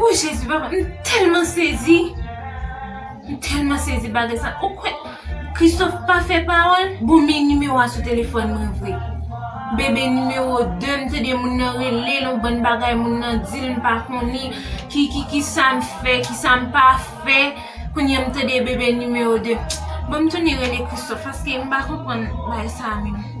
Ooh jezi papa m telman sezi M telman sezi bagay sa ou kwè Christophe pa fè pawòl bon men nimewo a sou telefòn mwen vre Bebe nimewo 2 m tande moun nan rele l yon bann bagay moun nan di l m pa konnen ki sa m fè ki sa m pa fè kounye a m tande bebe nimewo 2 bon m tounen rele Christophe paske m pa konprann bagay sa menm.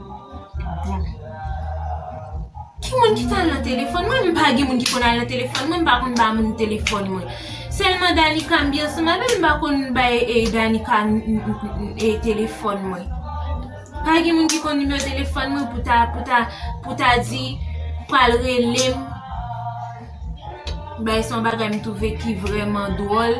Bon. Ki moun ki tal nan telefòn mwen? M pa gen moun ki konn al nan telefòn mwen, m pa konn ba moun telefòn mwen. Sèlman Danica m byen soumal men m pa konn bay e Danica e telefòn mwen. Pa gen moun ki konn nimewo telefòn mwen pou ta pou ta pou ta di pral relem. Bay son bagay m twouve ki vreman dwòl.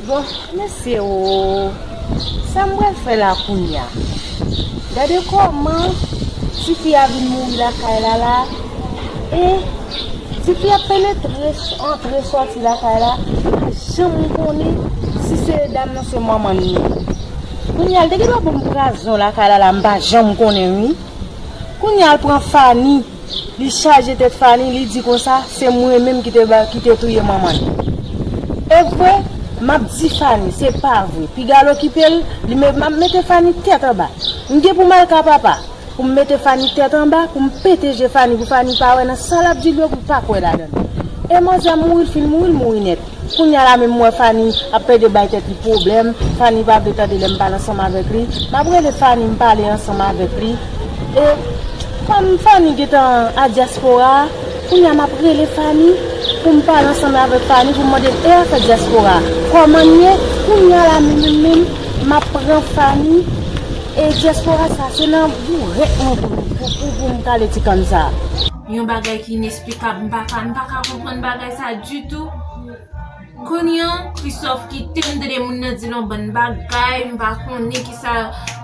Bon, mesye oo, sa m pral fè la kounye a? Gade kòman ti fi a vin mouri lakay la la e ti fi a ap penetre, antre, soti lakay la, m pa janm konnen si se dam nan se manman l ye. Kounya l te gendwa bon prazon lakay lala m pa janm konnen wi kounya l pran fani li chaje tèt fani li di konsa se mwen menm ki te touye manman l evre map di fani se pa vre piga l okipe l li met map mete fani tèt anba m gen pou m al ka papa pou m mete fani tèt anba pou m pete je fani pou fani pa wè nan sa lap di l yo pou l pa kwè ladan l e manzè mouri l fin mouri l mouri nèt. Kounya la menm m wè Fani ap pède bay tèt li pwoblèm, Fani pa vle tande lèm pale ansanm avèk li, map rele Fani m pale ansanm avèk li e kòm Fani gentan a dyaspora a kounya map rele Fani poum pale ansanm avèk Fani poum mandel e afè dyaspora a kòmann ye kounya la menm menm map pran Fani e dyaspora sa se nan bourèt mwen poum poum poum kale ti kann sa. Yon bagay ki. Li pap m paka m paka konprann bagay sa ditou Kounye an Christophe kite m tande moun nan di l yon bann bagay m pa konnen ki sa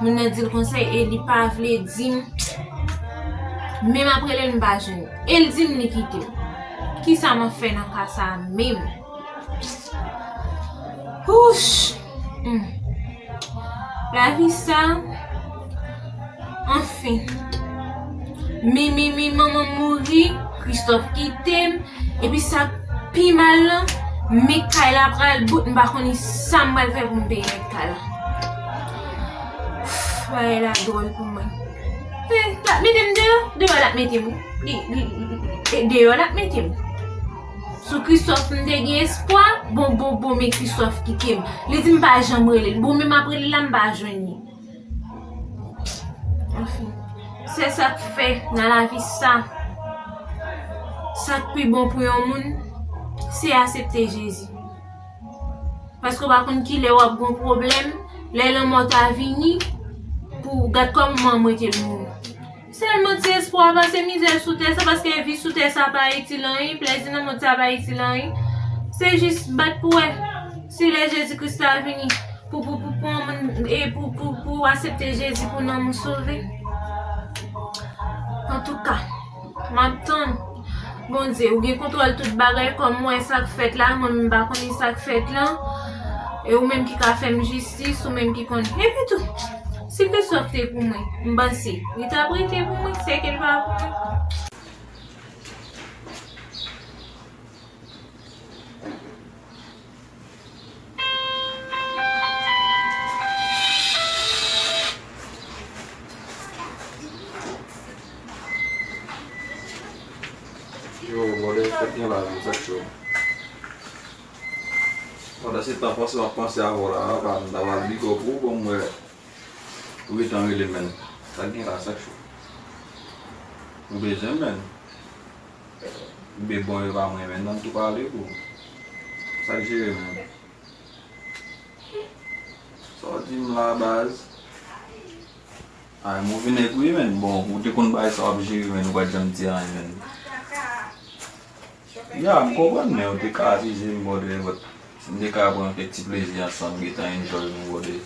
moun nan di l konsa e li pa vle di m Menm ap rele l m pa jwenn li e l di m li kite m Ki sa m ap fè nan ka sa menm Wouch! Humm lavi sa anfin Mimi manmanm mouri Christophe kitem epi sa pi mal lan me kay la pral bout m pa konn sam pral fè pou m peye rèt kay la Humm bagay la dwòl pou mwen Humm lap metem deyò deyò lap metem wi li li deyò lap metem. Sou Christophe m te gen espwa, bon bon bon men Christophe kite m. Li di m pa janm rele l. Bon men m ap rele l la m pa jwenn li. Anfen, se sa k fè nan lavi sa. Sa k pi bon pou yon moun, se asepte Jezi. Paske w pa konn ki lè w ap gon pwoblèm, lè lanmò ta vini, pou gad kòm mwen mwen te moun. Sèlman ti espwa a pase mizè sou tè sa paske vi sou tè sa pa itil anyen, plèzi nan mond sa pa itil anyen. Se jis bat pou wè si lè Jezi Kris la vini pou pou pou pran moun e pou pou pou asepte Jezi pou nanm ou sove. Antouka, m ap tann. Bondye, ou gen kontwòl tout bagay kòm ou wè sa k fèt la, mwen menm m pa konnen sa k fèt lan. E ou menm ki ka fè m jistis, ou menm ki konnen. Epitou! Si Christophe te pou mwen, m panse, li t ap rete pou mwen, se ke l pa pou mwen. Pandan se tan panse map panse avèw la apa m ta pral big up ou bon m wè ou gentan rele menn sak gen la sak cho ou bezwen menn bboy epa mwen menn nan m tou pale pou ou sak jere menn sa w dim la baz a yon move nèg ou ye menn bon ou te konn bagay sa wap jere menn ou pat janm di anyen menn. Ya, m konprann men ou te ka akize m brother but si n te ka pran kèk ti plezi ansanm gentan enjoy nou brother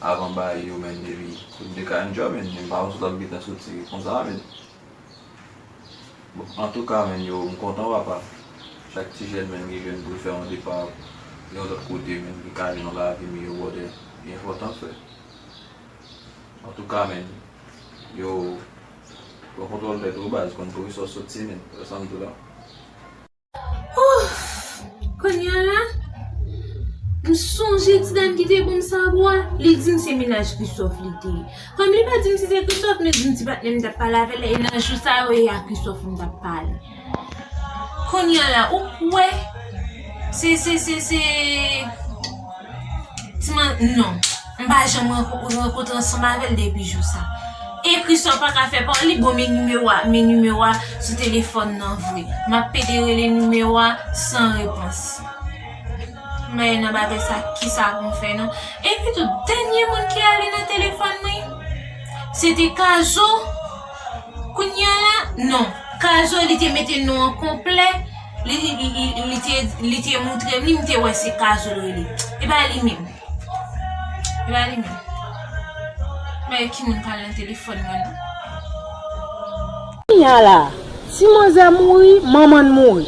avan baay yo men depi pou n te ka enjoy men men m pa wè sou tap gentan soti konsa men bon antouka men yo m kontan wap ap chak ti jèn men ki jwenn pou l fè yon depa yon lòt kote men ki ka gen yon lavi miyò brother li enpòtan frè antouka men yo. Pran kontwòl tèt ou baz, konn kouri sòs sot tinin, wè sam di la. Ouff Konya la M sonje ti dam ki te banm sabwa Li dim se menaj Christophe li te ye Kom li pa dim si se Christophe men li dim ti patnèm tap pale avèl la e nan jou sa yo e a Christophe m tap pale Kounya la ou k wè se se se se ti man non m pa janm rankontre ansanm avèl depi jou sa. Ekri sa w pa ka fè pa w li bon men nimewo a men nimewo a sou telefòn nan vre. M ap pede rele nimewo a san repons. Mè nan bagay sa ki sa pou m fè non. Epitou dènye moun ki ale nan telefòn mwen se te kazo. Kounya la non. Kazo li te mete non an konplè, li te moutre m li, m te wè se kazo l rele. E pa li menm. E pa li menm. Mwen e ki moun pale nan telefòn mwen nan. Kounya la, ti manzè mouri, manman l mouri.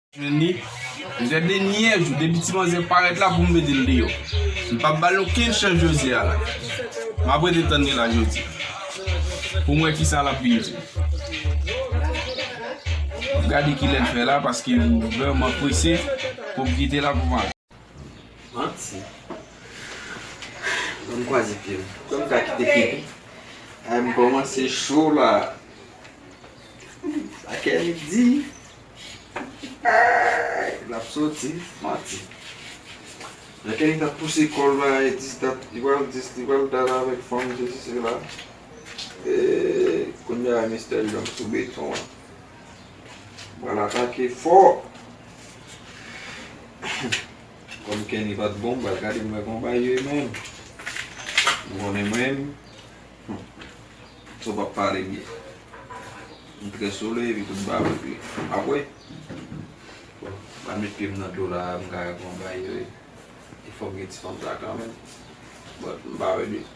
Annie, José de nyèj ou depi ti manzè parèt la poum metel deyò. M pap bal okenn chans José a la. Map rete tann li la jodi. Poum wè kisa lap vin di. Map gade kilèl fè la paske m vrèman prese poum kite la pou m ale. Manti. Banm kwaze pyem. Kòm ta kite pipi. Ay m kòmanse cho la. Sa Kenny t di. Aayy lap soti. Manti. Lè Kenny tap pouse kòl la e di tap li pral di li pral dal avèk fanm sesi sela. Eeyy kounya Mister Young sou beton an. Bal atake fò. Kòm Kenny pat bon bal gade mwen kon bay yo menn. Ou konnen mwen. Sou pap pale byen. M trè sole epi tout bal ok. Apre. Bal met pye m nan dlo la m ka wè kon bay yo e. E fòk gen ti fanm sa kanmenm. But m pa wè byen.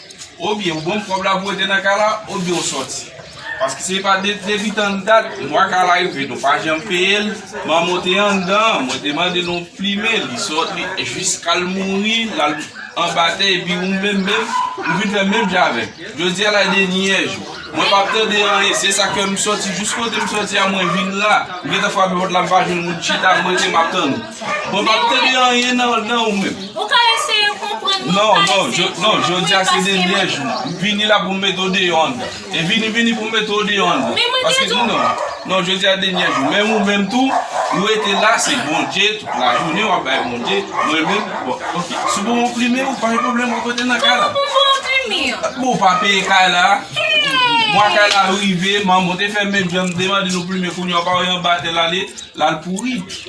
Ou byen ou banm kob la pou rete nan kay la ou byen ou soti Paske se pa depi tann dat mwa kay la rive nou pa janm peye l Manman te anndan mwen te mande nou plimen l li soti jiska l mouri l al anba tè epi ou menm menm ou vin fè menm jan avè m Jodi a la e dènyè jou mwen pa p tande anyen se sa k fè m soti jis kote m soti a mwen vin la m gentan frape pòt la m pa jwenn moun chita m rete m ap tann ou. Mwen pa tande anyen nan ou menm. Ou ka eseye konprann mwen. Non, non, non, jodi a se dènyè jou. Vini la pou mete ou deyò andan. E vini, vini pou mete ou deyò andan. Men mwen te di ou. Non, jodi a dènyè jou. Men ou menm tou, ou rete la, se Bondye, tout la jounen ou ap bay Bondye. Mwen menm, bon, ok. Si ou pou mwen enprime, ou pa gen pwoblèm mwen kote nan kay la. Mwen pou mwen enprime yo. Bon, ou pa peye kay la. Mwa kay la rive, manman te fè menm jan m te mande nou enprime kounye a ou pa wè yon batè la li, la l pouri.